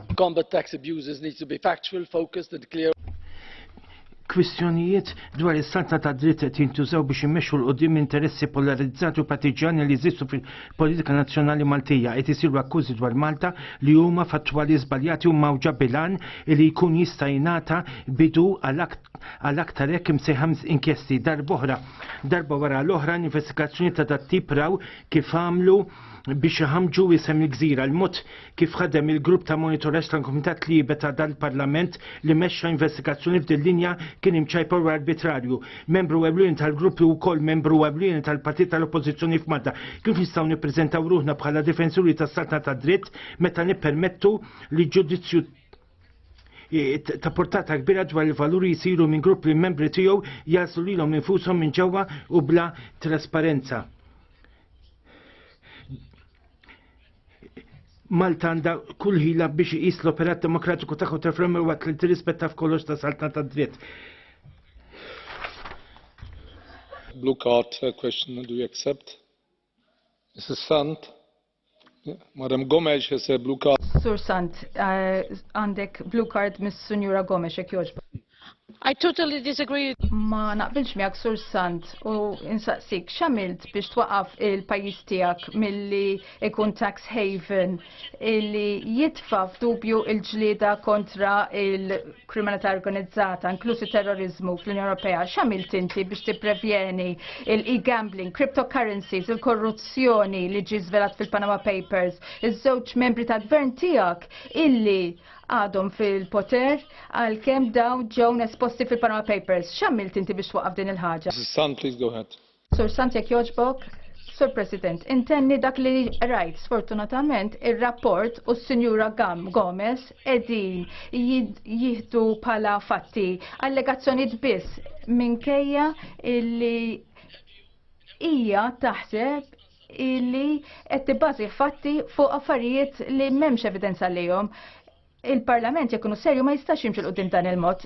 To combat tax abuses needs to be factual, focused and clear. Kwistjonijiet dwar is-salta ta' dritt qed jintużaw biex immexxu l qudiem interessi polarizzati u partiġani li jeżistu politika nazzjonali Maltija qed isiru akkużi dwar Malta li huma fattwali żbaljati u mgħawġa bilan li jkun jista' jingħata bidu għal aktar hekk imsejħa inkjesti darb'oħra. Darba wara l-oħra investigazzjoni ta' dat-tip raw kif għamlu biex iħammġu isem il-gżira l-mod kif ħadem il-grupp ta' monitoraġġ tal-Kumitat Libe ta' dan il-Parlament li mexxa investigazzjoni f'din linja kien imċajpar u arbitrarju. Membru ewlieni tal-grupp li wkoll membru ewlieni tal-Partit tal-Oppożizzjoni f'Malta. Kif nistgħu nippreżentaw ruħna bħala difensuri tas-saltna tad-dritt meta nippermettu li ġudizzju ta' portata kbira dwar il-valuri jisiru minn grupp li membri tiegħu jaslu lilhom infushom minn ġewwa u bla trasparenza. Malta għandha kull ħila biex iqis l-operat demokratiku tagħha ta' fl waqt li tirrispetta f'kollox ta' saltna ta' dritt. Blue card uh, question, do you accept? Mrs. Sant? Madam Gomes has a blue card. Sur Sant, uh, għandek blue card mis Sunjura Gomes, jek joġba. I totally disagree. Ma naqbilx miegħek sur sant u insaqsik x'għamilt biex twaqaf il-pajjiż tiegħek milli ikun tax haven illi jitfa' f'dubju il-ġlieda kontra il-kriminalità organizzata, inklusi terrorizmu fl-Unjoni Ewropea. X'għamilt inti biex tipprevjeni il-e-gambling, cryptocurrencies, il-korruzzjoni li ġi żvelat fil-Panama Papers, iż-żewġ membri tal-gvern tiegħek illi għadhom fil-poter għal kem daw ġew nesposti fil-Panama Papers. X'għamilt inti biex twaqaf din il-ħaġa? San, please go ahead. Sur Sant jekk joġbok, Sur President, intenni dak li rajt sfortunatament ir-rapport u s-Sinjura Gam Gomez edin jihdu pala fatti allegazzjoniet biss minkejja illi hija taħseb illi qed tibbażi fatti fuq affarijiet li m'hemmx evidenza lihom. Il-Parlament jekk ikunu serju ma jistax jimxi l dan il-mod.